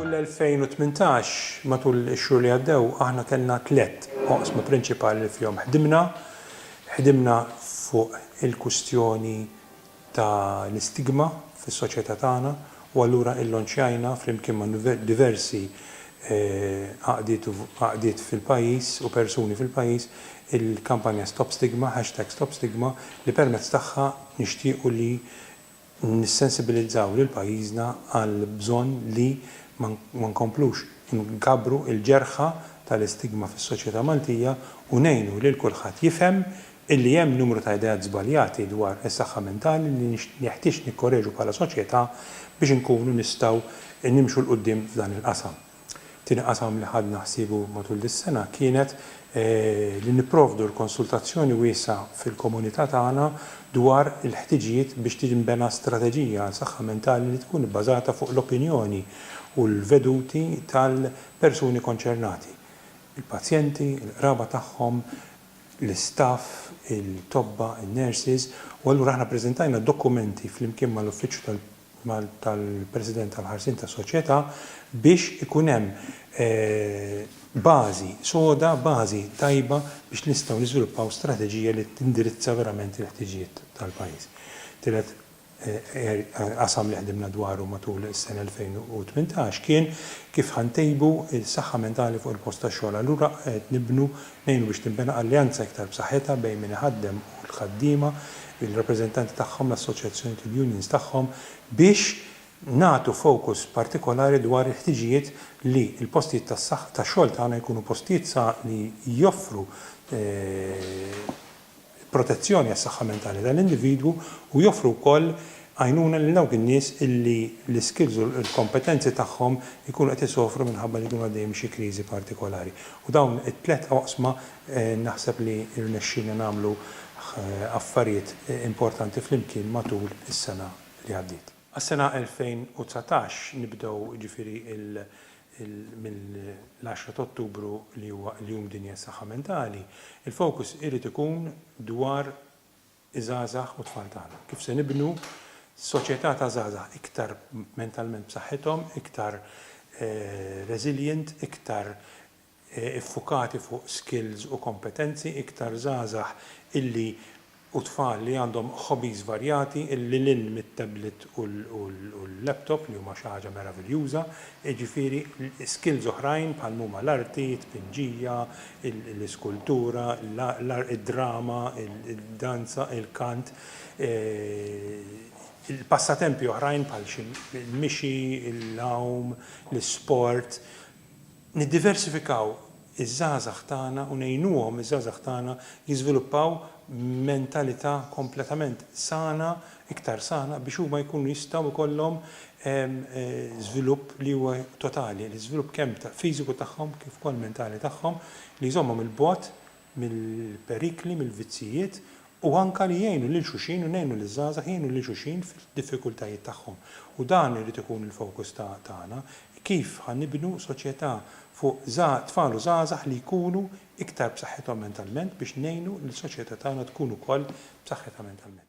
Matul l-2018, matul ix-xhur li għaddew, aħna kellna tliet oqsma prinċipali li fihom ħdimna. Ħdimna fuq il-kwistjoni ta' l-istigma fis-soċjetà tagħna u allura illonċjajna flimkien ma' diversi għaqdiet u għaqdiet fil-pajjiż u persuni fil-pajjiż il-kampanja Stop Stigma, hashtag Stop Stigma, li permezz tagħha nixtiequ li nissensibilizzaw lil pajjiżna għall-bżonn li ma nkomplux inkabbru l-ġerħa tal-istigma fis-soċjetà Maltija u ngħinu lil kulħadd jifhem illi hemm numru ta' ideat żbaljati dwar is-saħħa mentali li jeħtieġ nikkoreġu bħala soċjetà biex inkunu nistgħu nimxu 'l quddiem f'dan il-qasam. Tieni qasam li ħadna ħsiebu matul dis-sena kienet li nipprovdu l-konsultazzjoni wiesgħa fil-komunità tagħna dwar il-ħtiġijiet biex tinbena strateġija għal saħħa mentali li tkun ibbażata fuq l-opinjoni u l-veduti tal-persuni konċernati, il-pazjenti, il-qraba tagħhom, l-istaff, it-tobba, in-nurses, u allura aħna ppreżentajna dokumenti flimkien mal-Uffiċċju tal. tal-President tal-Ħarsien tas-Soċjetà biex ikun hemm bażi soda, bażi tajba biex nistgħu niżviluppaw strateġija li tindirizza verament il-ħtiġijiet tal-pajjiż. Tielet qasam li ħdimna dwaru matul is-sena 2018 kien kif ħa ntejbu s-saħħa mentali fuq il-post tax-xogħol. Allura qed nibnu Ngħinu biex tinbena alleanza iktar b'saħħitha bejn min iħaddem u l-ħaddiema, il-rappreżentanti tagħhom, l-assoċjazzjonijiet u l-unions tagħhom biex nagħtu fokus partikolari dwar il-ħtiġijiet li l-postijiet tas-saħħa tax-xogħol tagħna jkunu postijiet sa li joffru protezzjoni għas-saħħa mentali tal-individwu u joffru wkoll għajnuna lil dawk in-nies li l-iskills u l-kompetenzi tagħhom ikunu qed isofru minħabba li jkunu għaddejjin minn xi kriżi partikolari. U dawn it-tliet oqsma naħseb li rnexxielna nagħmlu affarijiet importanti flimkien matul is-sena li għaddiet. Għas-sena 2019 nibdew jiġifieri mill-10 ta' Ottubru li huwa l-Jum Dinji għas-Saħħa Mentali, il-fokus irid ikun dwar iż-żgħażagħ u t-tfal tagħna. Kif se nibnu soċjetà ta' żgħażagħ iktar mentalment b'saħħithom, iktar resilient, iktar iffukati fuq skills u kompetenzi iktar żgħażagħ illi u tfal li għandhom hobbies varjati lil hinn mit-tablet u l-laptop li huma xi ħaġa meraviljuża, jiġifieri skills oħrajn bħal mhuma l-arti, t-tpinġija, l-iskultura, id-drama, id-danza, il-kant, passatempi oħrajn bħal xi l-mixi, l-għawm, l-isport, niddiversifikaw iż-żgħażagħ tagħna u ngħinuhom iż-żgħażagħ tagħna jiżviluppaw mentalità kompletament sana, iktar sana, biex huma jkunu jistgħu jkollhom żvilupp li huwa totali, l-iżvilupp kemm fiżiku tagħhom kif ukoll mentali tagħhom, li jżommhom 'il bogħod mill-perikli, mill-vizzijiet u anke li jgħinu lil xulxin u ngħinu liż-żgħażagħ jgħinu lil xulxin fid-diffikultajiet tagħhom. U dan irid ikun il-fokus ta' tagħna, kif ħa nibnu soċjetà fuq żgħa tfal u żgħażagħ li jkunu iktar b'saħħithom mentalment biex ngħinu li l-soċjetà tagħna tkun ukoll b'saħħitha mentalment.